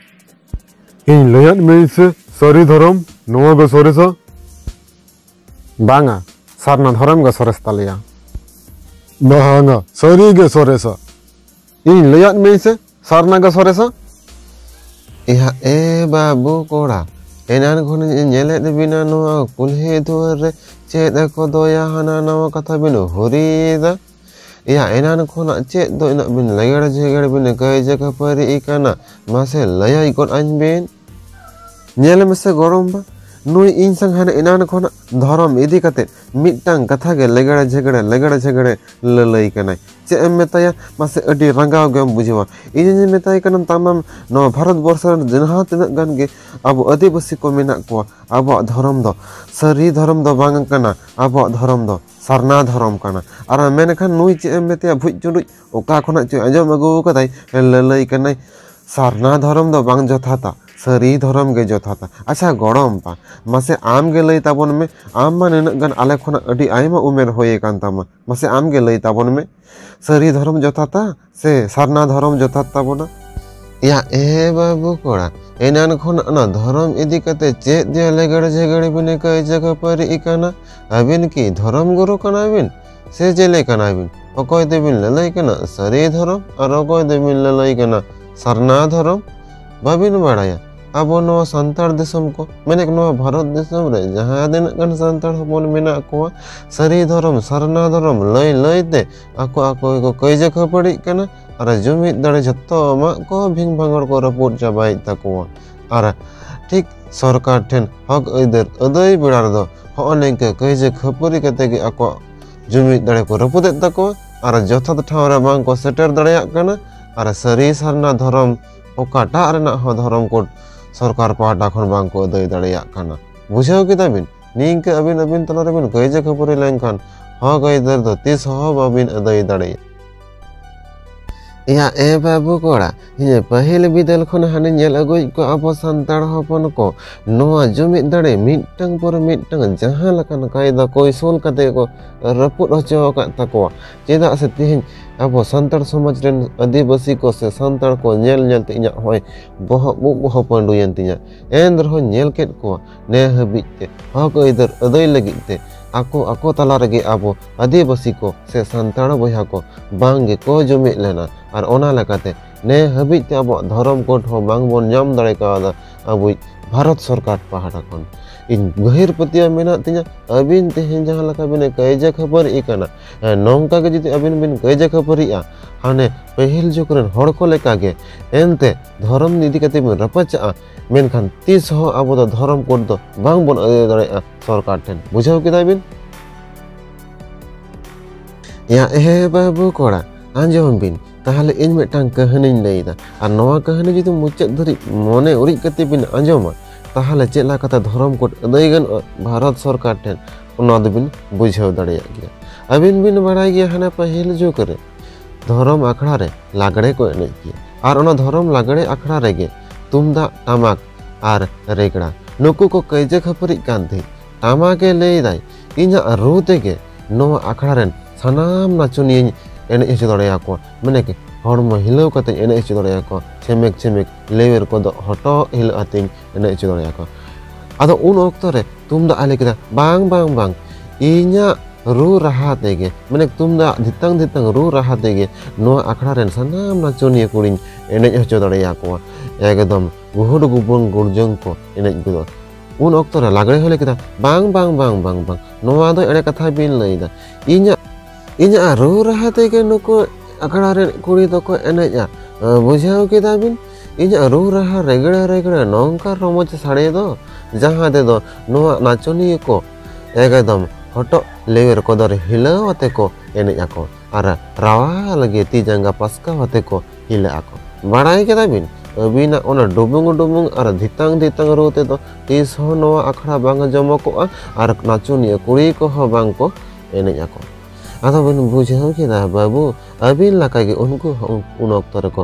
ᱤᱧ ᱞᱟᱹᱭᱟᱫ ᱢᱮᱭᱟᱹᱧ ᱥᱮ ᱥᱟᱹᱨᱤ ᱫᱷᱚᱨᱚᱢ ᱱᱚᱣᱟ ᱜᱮ ᱥᱚᱨᱮᱥᱟ ᱵᱟᱝᱟ ᱥᱟᱨᱱᱟ ᱫᱷᱚᱨᱚᱢ ᱜᱮ ᱥᱚᱨᱮᱥ ᱛᱟᱞᱮᱭᱟ ᱵᱟᱝᱟ ᱥᱟᱹᱨᱤ ᱜᱮ ᱥᱚᱨᱮᱥᱟ ᱤᱧ ᱞᱟᱹᱭᱟᱫ ᱢᱮᱭᱟ ᱥᱮ ᱥᱟᱨᱱᱟᱜᱟ ᱥᱚᱨᱮᱥᱟ ᱮᱭᱟ ᱮ ᱵᱟᱹᱵᱩ ᱠᱚᱲᱟ ᱮᱱᱟᱱ ᱠᱷᱚᱱᱤᱧ ᱧᱮᱞᱮᱫ ᱵᱤᱱᱟ ᱱᱚᱣᱟ ᱠᱩᱞᱦᱤ ᱫᱩᱣᱟᱹᱨ ᱨᱮ ᱪᱮᱫ ᱠᱚ ᱫᱚᱭᱟ ᱦᱟᱱᱟ ᱱᱟᱣᱟ ᱠᱟᱛᱷᱟ ᱵᱤᱱ ᱦᱩᱨᱤᱭᱮᱫᱟ ᱮᱭᱟ ᱮᱱᱟᱱ ᱠᱷᱚᱱᱟᱜ ᱪᱮᱫ ᱫᱚ ᱤᱱᱟᱹᱜ ᱵᱤᱱ ᱞᱮᱜᱮᱲ ᱡᱮᱜᱮᱲ ᱵᱤᱱ ᱠᱟᱹᱭᱡᱟᱹ ᱠᱷᱟᱹᱯᱟᱹᱨᱤᱜ ᱠᱟᱱᱟ ᱢᱟᱥᱮ ᱞᱟᱹᱭᱟᱭ ᱜᱚᱫ ᱟᱹᱧ ᱵᱤᱱ ᱧᱮᱞ ᱢᱮᱥᱮ ᱜᱚᱲᱚᱢ ᱵᱟ ᱱᱩᱭ ᱤᱧ ᱥᱟᱝ ᱦᱟᱱᱮ ᱮᱱᱟᱱ ᱠᱷᱚᱱᱟᱜ ᱫᱷᱚᱨᱚᱢ ᱤᱫᱤ ᱠᱟᱛᱮ ᱢᱤᱫᱴᱟᱝ ᱠᱟᱛᱷᱟ ᱜᱮ ᱞᱮᱜᱮᱲᱮ ᱡᱷᱮᱜᱮᱲᱮ ᱞᱮᱜᱮᱲᱮ ᱡᱷᱮᱜᱮᱲᱮ ᱞᱟᱹᱞᱟᱹᱭ ᱠᱟᱱᱟᱭ ᱪᱮᱫ ᱮᱢ ᱢᱮᱛᱟᱭᱟ ᱢᱟᱥᱮ ᱟᱹᱰᱤ ᱨᱟᱸᱜᱟᱣ ᱜᱮᱢ ᱵᱩᱡᱷᱟᱹᱣᱟ ᱤᱧᱤᱧ ᱢᱮᱛᱟᱭ ᱠᱟᱱᱟ ᱛᱟᱢᱟᱢ ᱱᱚᱣᱟ ᱵᱷᱟᱨᱚᱛ ᱵᱚᱨᱥᱚ ᱨᱮᱱ ᱡᱟᱦᱟᱸ ᱛᱤᱱᱟᱹᱜ ᱜᱟᱱ ᱜᱮ ᱟᱵᱚ ᱟᱹᱫᱤᱵᱟᱹᱥᱤ ᱠᱚ ᱢᱮᱱᱟᱜ ᱠᱚᱣᱟ ᱟᱵᱚᱣᱟᱜ ᱫᱷᱚᱨᱚᱢ ᱫᱚ ᱥᱟᱹᱨᱤ ᱫᱷᱚᱨᱚᱢ ᱫᱚ ᱵᱟᱝ ᱠᱟᱱᱟ ᱟᱵᱚᱣᱟᱜ ᱫᱷᱚᱨᱚᱢ ᱫᱚ ᱥᱟᱨᱱᱟ ᱫᱷᱚᱨᱚᱢ ᱠᱟᱱᱟ ᱟᱨ ᱢᱮᱱᱠᱷᱟᱱ ᱱᱩᱭ ᱪᱮᱫ ᱮᱢ ᱢᱮᱛᱟᱭᱟ ᱵᱷᱩᱡ ᱪᱩᱰᱩᱡ ᱚᱠᱟ ᱠᱷᱚᱱᱟᱜ ᱪᱚᱭ ᱟᱸᱡᱚᱢ ᱟᱹᱜᱩ ᱟᱠᱟᱫᱟᱭ ᱞᱟᱹᱞᱟᱹᱭ ᱠᱟᱱᱟᱭ ᱥᱟᱨᱱᱟ ᱫᱷᱚᱨᱚᱢ ᱫᱚ ᱵᱟᱝ ᱡᱚᱛᱷᱟᱛᱟ ᱥᱟᱹᱨᱤ ᱫᱷᱚᱨᱚᱢ ᱜᱮ ᱡᱚᱛᱷᱟᱛᱟ ᱟᱪᱪᱷᱟ ᱜᱚᱲᱚᱢ ᱵᱟ ᱢᱟᱥᱮ ᱟᱢ ᱜᱮ ᱞᱟᱹᱭ ᱛᱟᱵᱚᱱ ᱢᱮ ᱟᱢ ᱢᱟ ᱱᱤᱱᱟᱹᱜ ᱜᱟᱱ ᱟᱞᱮ ᱠᱷᱚᱱᱟᱜ ᱟᱹᱰᱤ ᱟᱭᱢᱟ ᱩᱢᱮᱨ ᱦᱩᱭ ᱟᱠᱟᱱ ᱛᱟᱢᱟ ᱢᱟᱥᱮ ᱟᱢ ᱜᱮ ᱞᱟᱹᱭ ᱛᱟᱵᱚᱱ ᱢᱮ ᱥᱟᱹᱨᱤ ᱫᱷᱚᱨᱚᱢ ᱡᱚᱛᱷᱟᱛᱟ ᱥᱮ ᱥᱟᱨᱱᱟ ᱫᱷᱚᱨᱚᱢ ᱡᱚᱛᱷᱟᱛ ᱛᱟᱵᱚᱱᱟ ᱭᱟ ᱮ ᱵᱟᱹᱵᱩ ᱠᱚᱲᱟ ᱮᱱᱟᱱ ᱠᱷᱚᱱ ᱚᱱᱟ ᱫᱷᱚᱨᱚᱢ ᱤᱫᱤ ᱠᱟᱛᱮ ᱪᱮᱫ ᱡᱮ ᱞᱮᱜᱮᱲ ᱡᱷᱮᱜᱮᱲ ᱵᱤᱱ ᱠᱟᱹᱭᱡᱟᱹ ᱠᱷᱟᱹᱯᱟᱹᱨᱤᱜ ᱠᱟᱱᱟ ᱟᱹᱵᱤᱱ ᱠᱤ ᱫᱷᱚᱨᱚᱢ ᱜᱩᱨᱩ ᱠᱟᱱᱟ ᱵᱤᱱ ᱥᱮ ᱪᱮᱫ ᱞᱮᱠᱟᱱᱟᱭ ᱵᱤᱱ ᱚᱠᱚᱭ ᱫᱚᱵᱤᱱ ᱞᱟᱹᱞᱟᱹᱭ ᱠᱟᱱᱟ ᱥᱟᱹᱨᱤ ᱫᱷᱚᱨᱚᱢ ᱟᱨ ᱚᱠᱚᱭ ᱫᱚᱵᱤᱱ ᱞᱟᱹᱞᱟᱹᱭ ᱠᱟᱱᱟ ᱥᱟᱨᱱᱟ ᱫᱷᱚᱨᱚᱢ ᱵᱟᱹᱵᱤᱱ ᱵᱟᱲᱟᱭᱟ ᱟᱵᱚ ᱱᱚᱣᱟ ᱥᱟᱱᱛᱟᱲ ᱫᱤᱥᱚᱢ ᱠᱚ ᱢᱮᱱᱮᱫ ᱱᱚᱣᱟ ᱵᱷᱟᱨᱚᱛ ᱫᱤᱥᱚᱢ ᱨᱮ ᱡᱟᱦᱟᱸ ᱛᱤᱱᱟᱹᱜ ᱜᱟᱱ ᱥᱟᱱᱛᱟᱲ ᱦᱚᱯᱚᱱ ᱢᱮᱱᱟᱜ ᱠᱚᱣᱟ ᱥᱟᱹᱨᱤ ᱫᱷᱚᱨᱚᱢ ᱥᱟᱨᱱᱟ ᱫᱷᱚᱨᱚᱢ ᱞᱟᱹᱭ ᱞᱟᱹᱭᱛᱮ ᱟᱠᱚ ᱟᱠᱚ ᱜᱮᱠᱚ ᱠᱟᱹᱭᱡᱟᱹ ᱠᱷᱟᱹᱯᱟᱹᱲᱤᱜ ᱠᱟᱱᱟ ᱟᱨ ᱡᱩᱢᱤᱫ ᱫᱟᱲᱮ ᱡᱷᱚᱛᱚ ᱟᱢᱟᱜ ᱠᱚ ᱵᱷᱤᱝ ᱵᱷᱟᱸᱜᱚᱲ ᱠᱚ ᱨᱟᱹᱯᱩᱫ ᱪᱟᱵᱟᱭᱮᱫ ᱛᱟᱠᱚᱣᱟ ᱟᱨ ᱴᱷᱤᱠ ᱥᱚᱨᱠᱟᱨ ᱴᱷᱮᱱ ᱦᱚᱠ ᱟᱹᱭᱫᱟᱹᱨ ᱟᱹᱫᱟᱹᱭ ᱵᱮᱲᱟ ᱨᱮᱫᱚ ᱦᱚᱸᱜᱼᱚ ᱱᱤᱝᱠᱟᱹ ᱠᱟᱹᱭᱡᱟᱹ ᱠᱷᱟᱹᱯᱟᱹᱨᱤ ᱠᱟᱛᱮ ᱜᱮ ᱟᱠᱚᱣᱟᱜ ᱡᱩᱢᱤᱫ ᱫᱟᱲᱮ ᱠᱚ ᱨᱟᱹᱯᱩᱫᱮᱫ ᱛᱟᱠᱚᱣᱟ ᱟᱨ ᱡᱚᱛᱷᱟᱛ ᱴᱷᱟᱶ ᱨᱮ ᱵᱟᱝ ᱠᱚ ᱥᱮᱴᱮᱨ ᱫᱟᱲᱮᱭᱟᱜ ᱠᱟᱱᱟ ᱟᱨ ᱥᱟᱹᱨᱤ ᱥᱟᱨᱱᱟ ᱫᱷᱚᱨᱚᱢ ᱚᱠᱟᱴᱟᱜ ᱨᱮᱱᱟᱜ ᱦᱚᱸ ᱫᱷᱚᱨᱚᱢ ᱠᱳᱰ ᱥᱚᱨᱠᱟᱨ ᱯᱟᱦᱴᱟ ᱠᱷᱚᱱ ᱵᱟᱝ ᱠᱚ ᱟᱹᱫᱟᱹᱭ ᱫᱟᱲᱮᱭᱟᱜ ᱠᱟᱱᱟ ᱵᱩᱡᱷᱟᱹᱣ ᱠᱮᱫᱟ ᱵᱤᱱ ᱱᱤᱝᱠᱟᱹ ᱟᱹᱵᱤᱱ ᱟᱹᱵᱤᱱ ᱛᱟᱞᱟ ᱨᱮᱵᱤᱱ ᱠᱟᱹᱭᱡᱟᱹ ᱠᱷᱟᱹᱯᱟᱹᱨᱤ ᱞᱮᱱᱠᱷᱟᱱ ᱦᱚᱠ ᱟᱹᱭᱫᱟᱹᱨ ᱫᱚ ᱛᱤᱥ ᱦᱚᱸ ᱵᱟᱹᱵᱤᱱ ᱟᱹᱫᱟᱹᱭ ᱫᱟᱲᱮᱭᱟᱜᱼᱟ ᱭᱟ ᱮ ᱵᱟᱹᱵᱩ ᱠᱚᱲᱟ ᱤᱧ ᱯᱟᱹᱦᱤᱞ ᱵᱤᱫᱟᱹᱞ ᱠᱷᱚᱱ ᱦᱟᱱᱮ ᱧᱮᱞ ᱟᱹᱜᱩᱭᱮᱫ ᱠᱚ ᱟᱵᱚ ᱥᱟᱱᱛᱟᱲ ᱦᱚᱯᱚᱱ ᱠᱚ ᱱᱚᱣᱟ ᱡᱩᱢᱤᱫ ᱫᱟᱲᱮ ᱢᱤᱫᱴᱟᱝ ᱯᱚᱨ ᱢᱤᱫᱴᱟᱝ ᱡᱟᱦᱟᱸ ᱞᱮᱠᱟᱱ ᱠᱟᱭᱫᱟ ᱠᱚᱭᱥᱚᱞ ᱠᱟᱛᱮ ᱠᱚ ᱨᱟᱹᱯᱩᱫ ᱦᱚᱪᱚ ᱟᱠᱟᱫ ᱛᱟᱠᱚᱣᱟ ᱪᱮᱫᱟᱜ ᱥᱮ ᱛᱮᱦᱮᱧ ᱟᱵᱚ ᱥᱟᱱᱛᱟᱲ ᱥᱚᱢᱟᱡᱽ ᱨᱮᱱ ᱟᱹᱫᱤᱵᱟᱹᱥᱤ ᱠᱚ ᱥᱮ ᱥᱟᱱᱛᱟᱲ ᱠᱚ ᱧᱮᱞ ᱧᱮᱞ ᱛᱮ ᱤᱧᱟᱹᱜ ᱦᱚᱸᱜᱼᱚᱭ ᱵᱚᱦᱚᱜ ᱩᱵ ᱵᱚᱦᱚᱜ ᱯᱟᱺᱰᱩᱭᱮᱱ ᱛᱤᱧᱟ ᱮᱱ ᱨᱮᱦᱚᱸ ᱧᱮᱞ ᱠᱮᱫ ᱠᱚᱣᱟ ᱱᱮ ᱦᱟᱹᱵᱤᱡ ᱛᱮ ᱦᱚᱠ ᱟᱹᱭᱫᱟᱹᱨ ᱟᱹᱫᱟᱹᱭ ᱞᱟᱹᱜᱤᱫ ᱛᱮ ᱟᱠᱚ ᱟᱠᱚ ᱛᱟᱞᱟ ᱨᱮᱜᱮ ᱟᱵᱚ ᱟᱹᱫᱤᱵᱟᱹᱥᱤ ᱠᱚ ᱥᱮ ᱥᱟᱱᱛᱟᱲ ᱵᱚᱭᱦᱟ ᱠᱚ ᱵᱟᱝ ᱜᱮᱠᱚ ᱡᱩᱢᱤᱫ ᱞᱮᱱᱟ ᱟᱨ ᱚᱱᱟ ᱞᱮᱠᱟᱛᱮ ᱱᱮ ᱦᱟᱹᱵᱤᱡ ᱛᱮ ᱟᱵᱚᱣᱟᱜ ᱫᱷᱚᱨᱚᱢ ᱠᱳᱰ ᱦᱚᱸ ᱵᱟᱝ ᱵᱚᱱ ᱧᱟᱢ ᱫᱟᱲᱮ ᱠᱟᱣᱫᱟ ᱟᱵᱚᱭᱤᱡ ᱵᱷᱟᱨᱚᱛ ᱥᱚᱨᱠᱟᱨ ᱯᱟᱦᱴᱟ ᱠᱷᱚᱱ ᱤᱧ ᱜᱟᱹᱦᱤᱨ ᱯᱟᱹᱛᱭᱟᱹᱣ ᱢᱮᱱᱟᱜ ᱛᱤᱧᱟ ᱟᱹᱵᱤᱱ ᱛᱮᱦᱮᱧ ᱡᱟᱦᱟᱸ ᱞᱮᱠᱟ ᱵᱤᱱ ᱠᱟᱹᱭᱡᱟᱹ ᱠᱷᱟᱹᱯᱟᱹᱨᱤ ᱠᱟᱱᱟ ᱱᱚᱝᱠᱟ ᱜᱮ ᱡᱩᱫᱤ ᱟᱹᱵᱤᱱ ᱵᱤᱱ ᱠᱟᱹᱭᱡᱟᱹ ᱠᱷᱟᱹᱯᱟᱹᱨᱤᱜᱼᱟ ᱦᱟᱱᱮ ᱯᱟᱹᱦᱤᱞ ᱡᱩᱜᱽ ᱨᱮᱱ ᱦᱚᱲ ᱠᱚ ᱞᱮᱠᱟᱜᱮ ᱮᱱᱛᱮ ᱫᱷᱚᱨᱚᱢ ᱤᱫᱤ ᱠᱟᱛᱮ ᱵᱤᱱ ᱨᱟᱯᱟᱪᱟᱜᱼᱟ ᱢᱮᱱᱠᱷᱟᱱ ᱛᱤᱥ ᱦᱚᱸ ᱟᱵᱚ ᱫᱚ ᱫᱷᱚᱨᱚᱢ ᱠᱳᱰ ᱫᱚ ᱵᱟᱝ ᱵᱚᱱ ᱟᱹᱭᱟᱹ ᱫᱟᱲᱮᱭᱟᱜᱼᱟ ᱥᱚᱨᱠᱟᱨ ᱴᱷᱮᱱ ᱵᱩᱡᱷᱟᱹᱣ ᱠᱮᱫᱟ ᱵᱤᱱ ᱭᱟ ᱮ ᱵᱟᱹᱵᱩ ᱠᱚᱲᱟ ᱟᱸᱡᱚᱢ ᱵᱤᱱ ᱛᱟᱦᱚᱞᱮ ᱤᱧ ᱢᱤᱫᱴᱟᱝ ᱠᱟᱹᱦᱱᱤᱧ ᱞᱟᱹᱭᱫᱟ ᱟᱨ ᱱᱚᱣᱟ ᱠᱟᱹᱦᱱᱤ ᱡᱩᱫᱤ ᱢᱩᱪᱟᱹᱫ ᱫᱷᱟᱹᱨᱤᱡ ᱢᱚᱱᱮ ᱩᱨᱤᱡ ᱠᱟᱛᱮ ᱵᱤᱱ ᱟᱸᱡᱚᱢᱟ ᱛᱟᱦᱚᱞᱮ ᱪᱮᱫ ᱞᱮᱠᱟᱛᱮ ᱫᱷᱚᱨᱚᱢ ᱠᱳᱰ ᱟᱹᱫᱟᱹᱭ ᱜᱟᱱᱚᱜᱼᱟ ᱵᱷᱟᱨᱚᱛ ᱥᱚᱨᱠᱟᱨ ᱴᱷᱮᱱ ᱚᱱᱟ ᱫᱚᱵᱤᱱ ᱵᱩᱡᱷᱟᱹᱣ ᱫᱟᱲᱮᱭᱟᱜ ᱜᱮᱭᱟ ᱟᱹᱵᱤᱱ ᱵᱤᱱ ᱵᱟᱲᱟᱭ ᱜᱮᱭᱟ ᱦᱟᱱᱟ ᱯᱟᱹᱦᱤᱞ ᱡᱩᱜᱽ ᱨᱮ ᱫᱷᱚᱨᱚᱢ ᱟᱠᱷᱲᱟ ᱨᱮ ᱞᱟᱜᱽᱲᱮ ᱠᱚ ᱮᱱᱮᱡ ᱜᱮᱭᱟ ᱟᱨ ᱚᱱᱟ ᱫᱷᱚᱨᱚᱢ ᱞᱟᱜᱽᱲᱮ ᱟᱠᱷᱲᱟ ᱨᱮᱜᱮ ᱛᱩᱢᱫᱟᱜ ᱴᱟᱢᱟᱠ ᱟᱨ ᱨᱮᱜᱽᱲᱟ ᱱᱩᱠᱩ ᱠᱚ ᱠᱟᱹᱭᱡᱟᱹ ᱠᱷᱟᱹᱯᱟᱹᱨᱤᱜ ᱠᱟᱱ ᱛᱟᱦᱮᱸᱫ ᱴᱟᱢᱟᱠ ᱮ ᱞᱟᱹᱭᱫᱟᱭ ᱤᱧᱟᱹᱜ ᱨᱩ ᱛᱮᱜᱮ ᱱᱚᱣᱟ ᱟᱠᱷᱲᱟ ᱨᱮᱱ ᱥᱟᱱᱟᱢ ᱱᱟᱪᱚᱱᱤᱭᱟᱹᱧ ᱮᱱᱮᱡ ᱦᱚᱪᱚ ᱫᱟᱲᱮᱭᱟᱠᱚᱣᱟ ᱢᱟᱱᱮ ᱦᱚᱲᱢᱚ ᱦᱤᱞᱟᱹᱣ ᱠᱟᱛᱮ ᱮᱱᱮᱡ ᱦᱚᱪᱚ ᱫᱟᱲᱮᱭᱟᱠᱚᱣᱟ ᱪᱷᱮᱢᱮᱠ ᱪᱷᱮᱢᱮᱠ ᱞᱮᱣᱮᱨ ᱠᱚᱫᱚ ᱦᱚᱴᱚᱜ ᱦᱤᱞᱟᱹᱜ ᱟᱛᱮᱧ ᱮᱱᱮᱡ ᱦᱚᱪᱚ ᱫᱟᱲᱮᱭᱟᱠᱚ ᱟᱫᱚ ᱩᱱ ᱚᱠᱛᱚ ᱨᱮ ᱛᱩᱢᱫᱟᱜ ᱮ ᱞᱟᱹᱭ ᱠᱮᱫᱟ ᱵᱟᱝ ᱵᱟᱝ ᱵᱟᱝ ᱤᱧᱟᱹᱜ ᱨᱩ ᱨᱟᱦᱟ ᱛᱮᱜᱮ ᱢᱟᱱᱮ ᱛᱩᱢᱫᱟᱜ ᱫᱷᱤᱛᱟᱝ ᱫᱷᱤᱛᱟᱝ ᱨᱩ ᱨᱟᱦᱟ ᱛᱮᱜᱮ ᱱᱚᱣᱟ ᱟᱠᱷᱲᱟ ᱨᱮᱱ ᱥᱟᱱᱟᱢ ᱱᱟᱪᱚᱱᱤᱭᱟᱹ ᱠᱩᱲᱤᱧ ᱮᱱᱮᱡ ᱦᱚᱪᱚ ᱫᱟᱲᱮᱭᱟᱠᱚᱣᱟ ᱮᱠᱫᱚᱢ ᱜᱩᱦᱩᱰ ᱜᱩᱵᱩᱱ ᱜᱩᱲᱡᱚᱝ ᱠᱚ ᱮᱱᱮᱡ ᱜᱚᱫᱚᱜᱼᱟ ᱩᱱ ᱚᱠᱛᱚ ᱨᱮ ᱞᱟᱜᱽᱲᱮ ᱦᱚᱸ ᱞᱟᱹᱭ ᱠᱮᱫᱟ ᱵᱟᱝ ᱵᱟᱝ ᱵᱟᱝ ᱵᱟᱝ ᱵᱟᱝ ᱱᱚᱣᱟ ᱫᱚ ᱮᱲᱮ ᱠᱟᱛᱷᱟ ᱵᱤᱱ ᱞᱟᱹᱭᱫᱟ ᱤᱧᱟᱹᱜ ᱤᱧᱟᱹᱜ ᱨᱩ ᱨᱟᱦᱟ ᱛᱮᱜᱮ ᱱᱩᱠᱩ ᱟᱠᱷᱲᱟ ᱨᱮᱱ ᱠᱩᱲᱤ ᱫᱚᱠᱚ ᱮᱱᱮᱡᱼᱟ ᱵᱩᱡᱷᱟᱹᱣ ᱠᱮᱫᱟ ᱵᱤᱱ ᱤᱧᱟᱹᱜ ᱨᱩ ᱨᱟᱦᱟ ᱨᱮᱜᱽᱲᱟ ᱨᱮᱜᱽᱲᱟ ᱱᱚᱝᱠᱟ ᱨᱚᱢᱚᱡᱽ ᱥᱟᱰᱮ ᱫᱚ ᱡᱟᱦᱟᱸ ᱛᱮᱫᱚ ᱱᱚᱣᱟ ᱱᱟᱪᱚᱱᱤᱭᱟᱹ ᱠᱚ ᱮᱠᱫᱚᱢ ᱦᱚᱴᱚᱜ ᱞᱮᱣᱮᱨ ᱠᱚᱫᱚᱨ ᱦᱤᱞᱟᱹᱣ ᱟᱛᱮ ᱠᱚ ᱮᱱᱮᱡ ᱟᱠᱚ ᱟᱨ ᱨᱟᱣᱟᱞ ᱜᱮ ᱛᱤ ᱡᱟᱸᱜᱟ ᱯᱟᱥᱠᱟᱣ ᱟᱛᱮ ᱠᱚ ᱦᱤᱞᱟᱹᱜ ᱟᱠᱚ ᱵᱟᱲᱟᱭ ᱠᱮᱫᱟ ᱵᱤᱱ ᱟᱹᱵᱤᱱᱟᱜ ᱚᱱᱟ ᱰᱩᱵᱩᱝ ᱰᱩᱵᱩᱝ ᱟᱨ ᱫᱷᱤᱛᱟᱝ ᱫᱷᱤᱛᱟᱝ ᱨᱩ ᱛᱮᱫᱚ ᱛᱤᱥ ᱦᱚᱸ ᱱᱚᱣᱟ ᱟᱠᱷᱲᱟ ᱵᱟᱝ ᱡᱚᱢᱚᱠᱚᱜᱼᱟ ᱟᱨ ᱱᱟᱪᱚᱱᱤᱭᱟᱹ ᱠᱩᱲᱤ ᱠᱚᱦᱚᱸ ᱵᱟᱝ ᱠᱚ ᱮᱱᱮᱡ ᱟᱠᱚ ᱟᱫᱚ ᱵᱤᱱ ᱵᱩᱡᱷᱟᱹᱣ ᱠᱮᱫᱟ ᱵᱟᱹᱵᱩ ᱟᱹᱵᱤᱱ ᱞᱮᱠᱟᱜᱮ ᱩᱱᱠᱩ ᱦᱚᱸ ᱩᱱ ᱚᱠᱛᱚ ᱨᱮᱠᱚ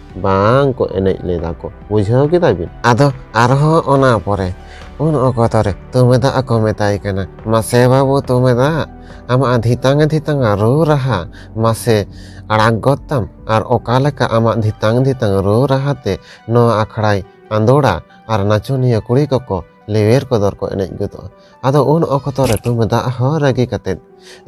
ᱵᱟᱝ ᱠᱚ ᱮᱱᱮᱡ ᱞᱮᱫᱟ ᱠᱚ ᱵᱩᱡᱷᱟᱹᱣ ᱠᱮᱫᱟ ᱵᱤᱱ ᱟᱫᱚ ᱟᱨᱦᱚᱸ ᱚᱱᱟ ᱯᱚᱨᱮ ᱩᱱ ᱚᱠᱛᱚ ᱨᱮ ᱛᱩᱢᱮᱫᱟᱜ ᱠᱚ ᱢᱮᱛᱟᱭ ᱠᱟᱱᱟ ᱢᱟᱥᱮ ᱵᱟᱹᱵᱩ ᱛᱩᱢᱮᱫᱟᱜ ᱟᱢᱟᱜ ᱫᱷᱤᱛᱟᱝ ᱫᱷᱤᱛᱟᱝ ᱨᱩ ᱨᱟᱦᱟ ᱢᱟᱥᱮ ᱟᱲᱟᱜ ᱜᱚᱫ ᱛᱟᱢ ᱟᱨ ᱚᱠᱟ ᱞᱮᱠᱟ ᱟᱢᱟᱜ ᱫᱷᱤᱛᱟᱝ ᱫᱷᱤᱛᱟᱝ ᱨᱩ ᱨᱟᱦᱟ ᱛᱮ ᱱᱚᱣᱟ ᱟᱠᱷᱲᱟᱭ ᱟᱸᱫᱳᱲᱟ ᱟᱨ ᱱᱟᱪᱚᱱᱤᱭᱟᱹ ᱠᱩᱲᱤ ᱠᱚᱠᱚ ᱞᱮᱣᱮᱨ ᱠᱚᱫᱚᱨ ᱠᱚ ᱮᱱᱮᱡ ᱜᱚᱫᱚᱜᱼᱟ ᱟᱫᱚ ᱩᱱ ᱚᱠᱛᱚ ᱨᱮ ᱛᱩᱢᱫᱟᱜ ᱦᱚᱸ ᱨᱟᱹᱜᱤ ᱠᱟᱛᱮᱫ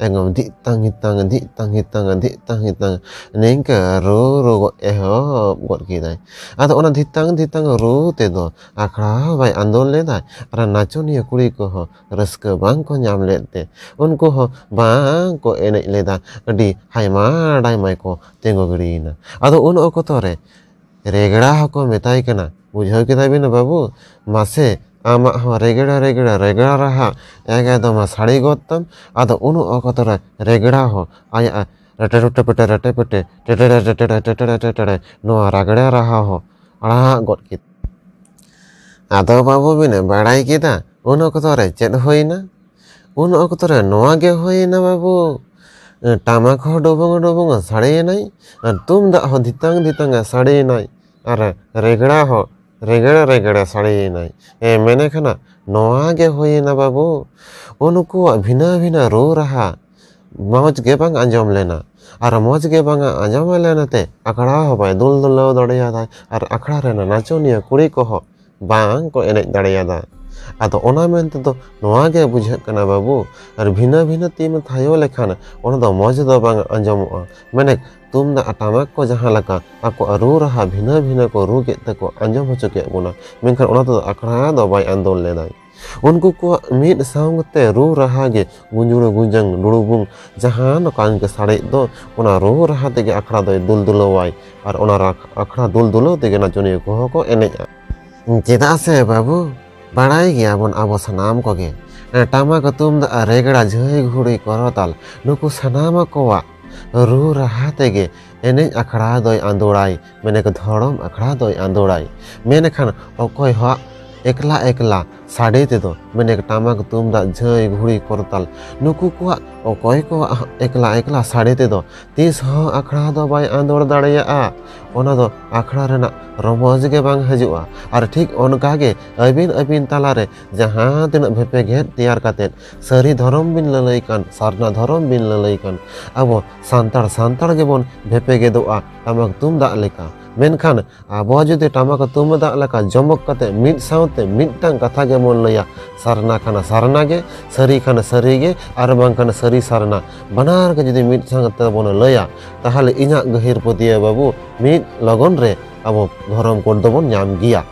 ᱮᱠᱫᱚᱢ ᱫᱷᱤᱜ ᱛᱟᱝ ᱦᱤᱜ ᱛᱟᱝ ᱫᱷᱤᱜ ᱛᱟᱝ ᱦᱤᱜ ᱛᱟᱝ ᱫᱷᱤᱜ ᱛᱟᱝ ᱦᱤᱜ ᱛᱟᱝ ᱱᱤᱝᱠᱟᱹ ᱨᱩ ᱨᱩ ᱜᱚᱫ ᱮᱦᱚᱵ ᱜᱚᱫ ᱠᱮᱫᱟᱭ ᱟᱫᱚ ᱚᱱᱟ ᱫᱷᱤᱜ ᱛᱟᱝ ᱫᱷᱤᱜ ᱛᱟᱝ ᱨᱩ ᱛᱮᱫᱚ ᱟᱠᱷᱲᱟ ᱦᱚᱸ ᱵᱟᱭ ᱟᱸᱫᱳᱲ ᱞᱮᱫᱟ ᱟᱨ ᱱᱟᱪᱚᱱᱤᱭᱟᱹ ᱠᱩᱲᱤ ᱠᱚᱦᱚᱸ ᱨᱟᱹᱥᱠᱟᱹ ᱵᱟᱝ ᱠᱚ ᱧᱟᱢ ᱞᱮᱫ ᱛᱮ ᱩᱱᱠᱩ ᱦᱚᱸ ᱵᱟᱝ ᱠᱚ ᱮᱱᱮᱡ ᱞᱮᱫᱟ ᱟᱹᱰᱤ ᱦᱟᱭᱢᱟ ᱰᱟᱭᱢᱟ ᱠᱚ ᱛᱤᱸᱜᱩ ᱜᱤᱲᱤᱭᱮᱱᱟ ᱟᱫᱚ ᱩᱱ ᱚᱠᱛᱚ ᱨᱮ ᱨᱮᱜᱽᱲᱟ ᱦᱚᱸᱠᱚ ᱢᱮᱛᱟᱭ ᱠᱟᱱᱟ ᱵᱩᱡᱷᱟᱹᱣ ᱠᱮᱫᱟ ᱵᱤᱱ ᱵᱟᱹᱵᱩ ᱢᱟᱥᱮ ᱟᱢᱟᱜ ᱦᱚᱸ ᱨᱮᱜᱽᱲᱟ ᱨᱮᱜᱽᱲᱟ ᱨᱮᱜᱽᱲᱟ ᱨᱟᱦᱟ ᱮᱠᱫᱚᱢ ᱥᱟᱰᱮ ᱜᱚᱫ ᱛᱟᱢ ᱟᱫᱚ ᱩᱱ ᱚᱠᱛᱚ ᱨᱮ ᱨᱮᱜᱽᱲᱟ ᱦᱚᱸ ᱟᱭᱟᱜ ᱨᱮᱴᱮ ᱨᱩᱴᱮ ᱯᱮᱴᱮ ᱨᱮᱴᱮ ᱯᱮᱴᱮ ᱴᱮᱴᱮᱲᱮ ᱴᱮᱴᱮᱲᱮ ᱴᱮᱴᱮᱲᱮ ᱴᱮᱴᱮᱲᱮ ᱱᱚᱣᱟ ᱨᱟᱜᱽᱲᱮ ᱨᱟᱦᱟ ᱦᱚᱸ ᱟᱲᱟᱜ ᱜᱚᱫ ᱠᱮᱫ ᱟᱫᱚ ᱵᱟᱹᱵᱩ ᱵᱤᱱ ᱵᱟᱲᱟᱭ ᱠᱮᱫᱟ ᱩᱱ ᱚᱠᱛᱚ ᱨᱮ ᱪᱮᱫ ᱦᱩᱭᱱᱟ ᱩᱱ ᱚᱠᱛᱚ ᱨᱮ ᱱᱚᱣᱟ ᱜᱮ ᱦᱩᱭᱮᱱᱟ ᱵᱟᱹᱵᱩ ᱴᱟᱢᱟᱠ ᱦᱚᱸ ᱰᱚᱵᱚᱝ ᱰᱚᱵᱚᱝ ᱥᱟᱰᱮᱭᱮᱱᱟᱭ ᱟᱨ ᱛᱩᱢᱫᱟᱜ ᱦᱚᱸ ᱫᱷᱤᱛᱟᱝ ᱫᱷᱤᱛᱟᱝ ᱥᱟᱰᱮᱭᱮᱱᱟᱭ ᱟᱨ ᱨᱮᱜᱽᱲᱟ ᱦᱚᱸ ᱨᱮᱜᱽᱲᱟ ᱨᱮᱜᱽᱲᱟ ᱥᱟᱰᱮᱭᱮᱱᱟᱭ ᱢᱮᱱᱮᱠ ᱦᱟᱱᱟ ᱱᱚᱣᱟ ᱜᱮ ᱦᱩᱭᱮᱱᱟ ᱵᱟᱹᱵᱩ ᱩᱱᱠᱩᱣᱟᱜ ᱵᱷᱤᱱᱟᱹ ᱵᱷᱤᱱᱟᱹ ᱨᱩ ᱨᱟᱦᱟ ᱢᱚᱡᱽ ᱜᱮ ᱵᱟᱝ ᱟᱸᱡᱚᱢ ᱞᱮᱱᱟ ᱟᱨ ᱢᱚᱡᱽ ᱜᱮ ᱵᱟᱝ ᱟᱸᱡᱚᱢ ᱞᱮᱱᱟ ᱛᱮ ᱟᱠᱷᱲᱟ ᱦᱚᱸ ᱵᱟᱭ ᱫᱩᱞ ᱫᱩᱞᱟᱹᱣ ᱫᱟᱲᱮᱭᱟᱫᱟ ᱟᱨ ᱟᱠᱷᱲᱟ ᱨᱮᱱ ᱱᱟᱪᱚᱱᱤᱭᱟᱹ ᱠᱩᱲᱤ ᱠᱚᱦᱚᱸ ᱵᱟᱝ ᱠᱚ ᱮᱱᱮᱡ ᱫᱟᱲᱮᱭᱟᱫᱟ ᱟᱫᱚ ᱚᱱᱟ ᱢᱮᱱ ᱛᱮᱫᱚ ᱱᱚᱣᱟ ᱜᱮ ᱵᱩᱡᱷᱟᱹᱜ ᱠᱟᱱᱟ ᱵᱟᱹᱵᱩ ᱟᱨ ᱵᱷᱤᱱᱟᱹ ᱵᱷᱤᱱᱟᱹ ᱛᱤᱢ ᱛᱷᱟᱭᱚ ᱞᱮᱠᱷᱟᱱ ᱚᱱᱟ ᱫᱚ ᱢᱚᱡᱽ ᱫᱚ ᱵᱟᱝ ᱟᱸᱡᱚᱢᱚᱜᱼᱟ ᱢᱟᱱᱮ ᱛᱩᱢᱫᱟᱜ ᱴᱟᱢᱟᱠ ᱠᱚ ᱡᱟᱦᱟᱸ ᱞᱮᱠᱟ ᱟᱠᱚᱣᱟᱜ ᱨᱩ ᱨᱟᱦᱟ ᱵᱷᱤᱱᱟᱹ ᱵᱷᱤᱱᱟᱹ ᱠᱚ ᱨᱩ ᱠᱮᱫ ᱛᱮᱠᱚ ᱟᱸᱡᱚᱢ ᱦᱚᱪᱚ ᱠᱮᱫ ᱵᱚᱱᱟ ᱢᱮᱱᱠᱷᱟᱱ ᱚᱱᱟ ᱛᱮᱫᱚ ᱟᱠᱷᱲᱟ ᱫᱚ ᱵᱟᱭ ᱟᱸᱫᱳᱲ ᱞᱮᱫᱟ ᱩᱱᱠᱩ ᱠᱚᱣᱟᱜ ᱢᱤᱫ ᱥᱟᱶᱛᱮ ᱨᱩ ᱨᱟᱦᱟ ᱜᱮ ᱜᱩᱸᱡᱩᱲ ᱜᱩᱸᱡᱟᱝ ᱞᱩᱲᱩᱵᱩᱝ ᱡᱟᱦᱟᱸ ᱱᱚᱝᱠᱟᱱ ᱜᱮ ᱥᱟᱲᱮᱡ ᱫᱚ ᱚᱱᱟ ᱨᱩ ᱨᱟᱦᱟ ᱛᱮᱜᱮ ᱟᱠᱷᱲᱟ ᱫᱚᱭ ᱫᱩᱞ ᱫᱩᱞᱟᱹᱣᱟᱭ ᱟᱨ ᱚᱱᱟ ᱟᱠᱷᱲᱟ ᱫᱩᱞ ᱫᱩᱞᱟᱹᱣ ᱛᱮᱜᱮ ᱱᱟᱪᱚᱱᱤᱭᱟᱹ ᱠᱚᱦᱚᱸ ᱠᱚ ᱮᱱᱮᱡᱼᱟ ᱪᱮᱫᱟᱜ ᱥᱮ ᱵᱟᱹᱵᱩ ᱵᱟᱲᱟᱭ ᱜᱮᱭᱟᱵᱚᱱ ᱟᱵᱚ ᱥᱟᱱᱟᱢ ᱠᱚᱜᱮ ᱴᱟᱢᱟᱠ ᱛᱩᱢᱫᱟᱜ ᱨᱮᱜᱽᱲᱟ ᱡᱷᱟᱹᱭ ᱜᱷᱩᱲᱤ ᱠᱚᱨᱚᱛᱟᱞ ᱱᱩᱠᱩ ᱥᱟᱱᱟᱢ ᱠᱚᱣᱟᱜ ᱨᱩ ᱨᱟᱦᱟ ᱛᱮᱜᱮ ᱮᱱᱮᱡ ᱟᱠᱷᱲᱟ ᱫᱚᱭ ᱟᱸᱫᱳᱲᱟᱭ ᱢᱮᱱᱮ ᱠᱚ ᱫᱷᱚᱨᱚᱢ ᱟᱠᱷᱲᱟ ᱫᱚᱭ ᱟᱸᱫᱚᱲᱟᱭ ᱢᱮᱱᱮ ᱠᱷᱟᱱ ᱚᱠᱚᱭ ᱦᱚᱸ ᱮᱠᱞᱟ ᱮᱠᱞᱟ ᱥᱟᱰᱮ ᱛᱮᱫᱚ ᱢᱮᱱᱮ ᱴᱟᱢᱟᱠ ᱛᱩᱢᱫᱟᱜ ᱡᱷᱟᱹᱭ ᱜᱷᱩᱲᱤ ᱠᱚᱨᱛᱟᱞ ᱱᱩᱠᱩ ᱠᱚᱣᱟᱜ ᱚᱠᱚᱭ ᱠᱚᱣᱟᱜ ᱮᱠᱞᱟ ᱮᱠᱞᱟ ᱥᱟᱰᱮ ᱛᱮᱫᱚ ᱛᱤᱥ ᱦᱚᱸ ᱟᱠᱷᱲᱟ ᱫᱚ ᱵᱟᱭ ᱟᱸᱫᱚᱲ ᱫᱟᱲᱮᱭᱟᱜᱼᱟ ᱚᱱᱟ ᱫᱚ ᱟᱠᱷᱲᱟ ᱨᱮᱱᱟᱜ ᱨᱚᱢᱚᱡᱽ ᱜᱮ ᱵᱟᱝ ᱦᱤᱡᱩᱜᱼᱟ ᱟᱨ ᱴᱷᱤᱠ ᱚᱱᱠᱟ ᱜᱮ ᱟᱹᱵᱤᱱ ᱟᱹᱵᱤᱱ ᱛᱟᱞᱟᱨᱮ ᱡᱟᱦᱟᱸ ᱛᱤᱱᱟᱹᱜ ᱵᱷᱮᱯᱮᱜᱮᱫ ᱛᱮᱭᱟᱨ ᱠᱟᱛᱮᱫ ᱥᱟᱹᱨᱤ ᱫᱷᱚᱨᱚᱢ ᱵᱤᱱ ᱞᱟᱹᱞᱟᱹᱭ ᱠᱟᱱ ᱥᱟᱨᱱᱟ ᱫᱷᱚᱨᱚᱢ ᱵᱤᱱ ᱞᱟᱹᱞᱟᱹᱭ ᱠᱟᱱ ᱟᱵᱚ ᱥᱟᱱᱛᱟᱲ ᱥᱟᱱᱛᱟᱲ ᱜᱮᱵᱚᱱ ᱵᱷᱮᱯᱮᱜᱮᱫᱚᱜᱼᱟ ᱴᱟᱢᱟᱠ ᱛᱩᱢᱫᱟᱜ ᱞᱮᱠᱟ ᱢᱮᱱᱠᱷᱟᱱ ᱟᱵᱚ ᱡᱩᱫᱤ ᱴᱟᱢᱟᱠ ᱛᱩᱢᱫᱟᱜ ᱞᱮᱠᱟ ᱡᱚᱢᱚᱠ ᱠᱟᱛᱮ ᱢᱤᱫ ᱥᱟᱶᱛᱮ ᱢᱤᱫᱴᱟᱝ ᱠᱟᱛᱷᱟ ᱜᱮᱵᱚᱱ ᱞᱟᱹᱭᱟ ᱥᱟᱨᱱᱟ ᱠᱷᱟᱱ ᱥᱟᱨᱱᱟ ᱜᱮ ᱥᱟᱹᱨᱤ ᱠᱷᱟᱱ ᱥᱟᱹᱨᱤ ᱜᱮ ᱟᱨ ᱵᱟᱝᱠᱷᱟᱱ ᱥᱟᱹᱨᱤ ᱥᱟᱨᱱᱟ ᱵᱟᱱᱟᱨ ᱜᱮ ᱡᱩᱫᱤ ᱢᱤᱫ ᱥᱟᱶ ᱠᱟᱛᱮ ᱵᱚᱱ ᱞᱟᱹᱭᱟ ᱛᱟᱦᱚᱞᱮ ᱤᱧᱟᱹᱜ ᱜᱟᱹᱦᱤᱨ ᱯᱟᱹᱛᱭᱟᱹᱣ ᱵᱟᱹᱵᱩ ᱢᱤᱫ ᱞᱚᱜᱚᱱ ᱨᱮ ᱟᱵᱚ ᱫᱷᱚᱨᱚᱢ ᱠᱳᱰ ᱫᱚᱵᱚᱱ ᱧᱟᱢ ᱜᱮᱭᱟ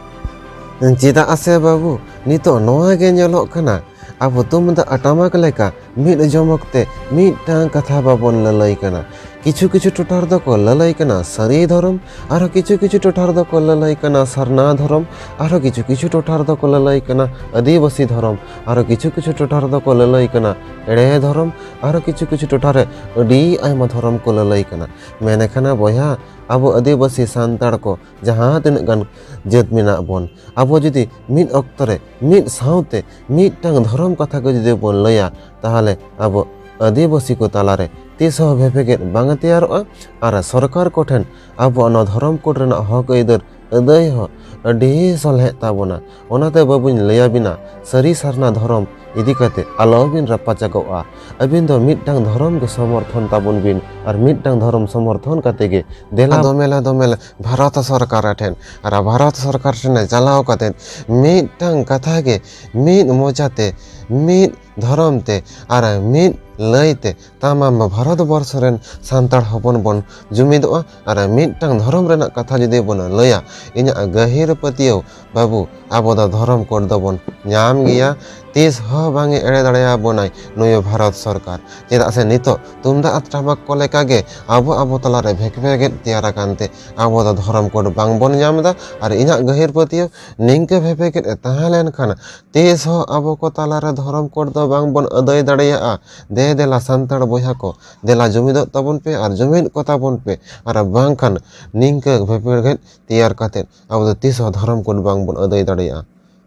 ᱪᱮᱫᱟᱜ ᱥᱮ ᱵᱟᱹᱵᱩ ᱱᱤᱛᱚᱜ ᱱᱚᱣᱟ ᱜᱮ ᱧᱮᱞᱚᱜ ᱠᱟᱱᱟ ᱟᱵᱚ ᱛᱩᱢᱫᱟᱜ ᱴᱟᱢᱟᱠ ᱞᱮᱠᱟ ᱢᱤᱫ ᱡᱚᱢ ᱚᱠᱛᱮ ᱢᱤᱫᱴᱟᱝ ᱠᱟᱛᱷᱟ ᱵᱟᱵᱚᱱ ᱞᱟᱹᱞᱟᱹᱭ ᱠᱟᱱᱟ ᱠᱤᱪᱷᱩ ᱠᱤᱪᱷᱩ ᱴᱚᱴᱷᱟ ᱨᱮᱫᱚ ᱠᱚ ᱞᱟᱹᱞᱟᱹᱭ ᱠᱟᱱᱟ ᱥᱟᱹᱨᱤ ᱫᱷᱚᱨᱚᱢ ᱟᱨᱦᱚᱸ ᱠᱤᱪᱷᱩ ᱠᱤᱪᱷᱩ ᱴᱚᱴᱷᱟ ᱨᱮᱫᱚ ᱠᱚ ᱞᱟᱹᱞᱟᱹᱭ ᱠᱟᱱᱟ ᱥᱟᱨᱱᱟ ᱫᱷᱚᱨᱚᱢ ᱟᱨᱦᱚᱸ ᱠᱤᱪᱷᱩ ᱠᱤᱪᱷᱩ ᱴᱚᱴᱷᱟ ᱨᱮᱫᱚ ᱠᱚ ᱞᱟᱹᱞᱟᱹᱭ ᱠᱟᱱᱟ ᱟᱹᱫᱤᱵᱟᱹᱥᱤ ᱫᱷᱚᱨᱚᱢ ᱟᱨᱦᱚᱸ ᱠᱤᱪᱷᱩ ᱠᱤᱪᱷᱩ ᱴᱚᱴᱷᱟ ᱨᱮᱫᱚ ᱠᱚ ᱞᱟᱹᱞᱟᱹᱭ ᱠᱟᱱᱟ ᱮᱲᱮ ᱫᱷᱚᱨᱚᱢ ᱟᱨᱦᱚᱸ ᱠᱤᱪᱷᱩ ᱠᱤᱪᱷᱩ ᱴᱚᱴᱷᱟ ᱨᱮ ᱟᱹᱰᱤ ᱟᱭᱢᱟ ᱫᱷᱚᱨᱚᱢ ᱠᱚ ᱞᱟᱹᱞᱟᱹᱭ ᱠᱟᱱᱟ ᱢᱮᱱᱮ ᱠᱟᱱᱟ ᱵᱚᱭᱦᱟ ᱟᱵᱚ ᱟᱹᱫᱤᱵᱟᱹᱥᱤ ᱥᱟᱱᱛᱟᱲ ᱠᱚ ᱡᱟᱦᱟᱸ ᱛᱤᱱᱟᱹᱜ ᱜᱟᱱ ᱡᱟᱹᱛ ᱢᱮᱱᱟᱜ ᱵᱚᱱ ᱟᱵᱚ ᱡᱩᱫᱤ ᱢᱤᱫ ᱚᱠᱛᱚ ᱨᱮ ᱢᱤᱫ ᱥᱟᱶᱛᱮ ᱢᱤᱫᱴᱟᱝ ᱫᱷᱚᱨᱚᱢ ᱠᱟᱛᱷᱟ ᱠᱚ ᱡᱩᱫᱤ ᱵᱚᱱ ᱞᱟᱹᱭᱟ ᱛᱟᱦᱚᱞᱮ ᱟᱵᱚ ᱟᱹᱫᱤᱵᱟᱹᱥᱤ ᱠᱚ ᱛᱟᱞᱟᱨᱮ ᱛᱤᱥ ᱦᱚᱸ ᱵᱷᱮᱯᱮᱜᱮᱫ ᱵᱟᱝ ᱛᱮᱭᱟᱨᱚᱜᱼᱟ ᱟᱨ ᱥᱚᱨᱠᱟᱨ ᱠᱚᱴᱷᱮᱱ ᱟᱵᱚᱣᱟᱜ ᱱᱚᱣᱟ ᱫᱷᱚᱨᱚᱢ ᱠᱳᱰ ᱨᱮᱱᱟᱜ ᱦᱚᱠ ᱟᱹᱭᱫᱟᱹᱨ ᱟᱹᱫᱟᱹᱭ ᱦᱚᱸ ᱟᱹᱰᱤ ᱥᱚᱞᱦᱮᱜ ᱛᱟᱵᱚᱱᱟ ᱚᱱᱟᱛᱮ ᱵᱟᱹᱵᱩᱧ ᱞᱟᱹᱭᱟᱵᱤᱱᱟ ᱥᱟᱹᱨᱤ ᱥᱟᱨᱱᱟ ᱫᱷᱚᱨᱚᱢ ᱤᱫᱤ ᱠᱟᱛᱮ ᱟᱞᱚᱵᱤᱱ ᱨᱟᱯᱟᱪᱟᱜᱚᱜᱼᱟ ᱟᱹᱵᱤᱱ ᱫᱚ ᱢᱤᱫᱴᱟᱝ ᱫᱷᱚᱨᱚᱢ ᱜᱮ ᱥᱚᱢᱚᱨᱛᱷᱚᱱ ᱛᱟᱵᱚᱱ ᱵᱤᱱ ᱟᱨ ᱢᱤᱫᱴᱟᱝ ᱫᱷᱚᱨᱚᱢ ᱥᱚᱢᱚᱨᱛᱷᱚᱱ ᱠᱟᱛᱮ ᱜᱮ ᱫᱮᱞᱟ ᱫᱚᱢᱮᱞᱟ ᱫᱚᱢᱮᱞᱟ ᱵᱷᱟᱨᱚᱛ ᱥᱚᱨᱠᱟᱨ ᱴᱷᱮᱱ ᱟᱨ ᱵᱷᱟᱨᱚᱛ ᱥᱚᱨᱠᱟᱨ ᱴᱷᱮᱱ ᱪᱟᱞᱟᱣ ᱠᱟᱛᱮ ᱢᱤᱫᱴᱟᱝ ᱠᱟᱛᱷᱟ ᱜᱮ ᱢᱤᱫ ᱢᱚᱪᱟᱛᱮ ᱢᱤᱫ ᱫᱷᱚᱨᱚᱢ ᱛᱮ ᱟᱨ ᱢᱤᱫ ᱞᱟᱹᱭᱛᱮ ᱛᱟᱢᱟᱢ ᱵᱷᱟᱨᱚᱛ ᱵᱚᱨᱥᱚ ᱨᱮᱱ ᱥᱟᱱᱛᱟᱲ ᱦᱚᱯᱚᱱ ᱵᱚᱱ ᱡᱩᱢᱤᱫᱚᱜᱼᱟ ᱟᱨ ᱢᱤᱫᱴᱟᱝ ᱫᱷᱚᱨᱚᱢ ᱨᱮᱱᱟᱜ ᱠᱟᱛᱷᱟ ᱡᱩᱫᱤ ᱵᱚᱱ ᱞᱟᱹᱭᱟ ᱤᱧᱟᱹᱜ ᱜᱟᱹᱦᱤᱨ ᱯᱟᱹᱛᱭᱟᱹᱣ ᱵᱟᱹᱵᱩ ᱟᱵᱚ ᱫᱚ ᱫᱷᱚᱨᱚᱢ ᱠᱳᱰ ᱫᱚᱵᱚᱱ ᱧᱟᱢ ᱜᱮᱭᱟ ᱛᱤᱥ ᱦᱚᱸ ᱵᱟᱝᱮ ᱮᱲᱮ ᱫᱟᱲᱮᱭᱟᱵᱚᱱᱟᱭ ᱱᱩᱭ ᱵᱷᱟᱨᱚᱛ ᱥᱚᱨᱠᱟᱨ ᱪᱮᱫᱟᱜ ᱥᱮ ᱱᱤᱛᱚᱜ ᱛᱩᱢᱫᱟᱜ ᱟᱨ ᱴᱟᱢᱟᱠ ᱠᱚ ᱞᱮᱠᱟᱜᱮ ᱟᱵᱚ ᱟᱵᱚ ᱛᱟᱞᱟᱨᱮ ᱵᱷᱮᱠ ᱵᱷᱮᱜᱮᱫ ᱛᱮᱭᱟᱨ ᱟᱠᱟᱱ ᱛᱮ ᱟᱵᱚ ᱫᱚ ᱫᱷᱚᱨᱚᱢ ᱠᱳᱰ ᱵᱟᱝᱵᱚᱱ ᱧᱟᱢ ᱮᱫᱟ ᱟᱨ ᱤᱧᱟᱹᱜ ᱜᱟᱹᱦᱤᱨ ᱯᱟᱹᱛᱭᱟᱹᱣ ᱱᱤᱝᱠᱟᱹ ᱵᱷᱮᱯᱮᱜᱮᱫ ᱮ ᱛᱟᱦᱮᱸ ᱞᱮᱱᱠᱷᱟᱱ ᱛᱤᱥ ᱦᱚᱸ ᱟᱵᱚ ᱠᱚ ᱛᱟᱞᱟᱨᱮ ᱫᱷᱚᱨᱚᱢ ᱠᱳᱰ ᱫᱚ ᱵᱟᱝᱵᱚᱱ ᱟᱹᱫᱟᱹᱭ ᱫᱟᱲᱮᱭᱟᱜᱼᱟ ᱫᱮ ᱫᱮᱞᱟ ᱥᱟᱱᱛᱟᱲ ᱵᱚᱭᱦᱟ ᱠᱚ ᱫᱮᱞᱟ ᱡᱩᱢᱤᱫᱚᱜ ᱛᱟᱵᱚᱱ ᱯᱮ ᱟᱨ ᱡᱩᱢᱤᱫ ᱠᱚᱛᱟ ᱵᱚᱱ ᱯᱮ ᱟᱨ ᱵᱟᱝᱠᱷᱟᱱ ᱱᱤᱝᱠᱟᱹ ᱵᱷᱮᱯᱮᱜᱮᱫ ᱛᱮᱭᱟᱨ ᱠᱟᱛᱮ ᱟᱵᱚ ᱫᱚ ᱛᱤᱥ ᱦᱚᱸ ᱫᱷᱚᱨᱚᱢ ᱠᱳᱰ ᱵᱟᱝ ᱵᱚᱱ ᱟᱹᱫᱟᱹᱭ ᱫᱟᱲᱮᱭᱟᱜᱼᱟ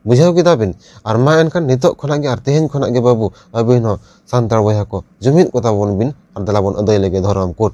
ᱵᱩᱡᱷᱟᱹᱣ ᱠᱮᱫᱟ ᱵᱤᱱ ᱟᱨ ᱢᱟ ᱮᱱᱠᱷᱟᱱ ᱱᱤᱛᱚᱜ ᱠᱷᱚᱱᱟᱜ ᱜᱮ ᱟᱨ ᱛᱮᱦᱮᱧ ᱠᱷᱚᱱᱟᱜ ᱜᱮ ᱵᱟᱹᱵᱩ ᱟᱹᱵᱤᱱ ᱦᱚᱸ ᱥᱟᱱᱛᱟᱲ ᱵᱚᱭᱦᱟ ᱠᱚ ᱡᱩᱢᱤᱫ ᱠᱚᱛᱟ ᱵᱚᱱ ᱵᱤᱱ ᱟᱨ ᱫᱮᱞᱟ ᱵᱚᱱ ᱟᱹᱫᱟᱹᱭ ᱞᱮᱜᱮ ᱫᱷᱚᱨᱚᱢ ᱠᱳᱰ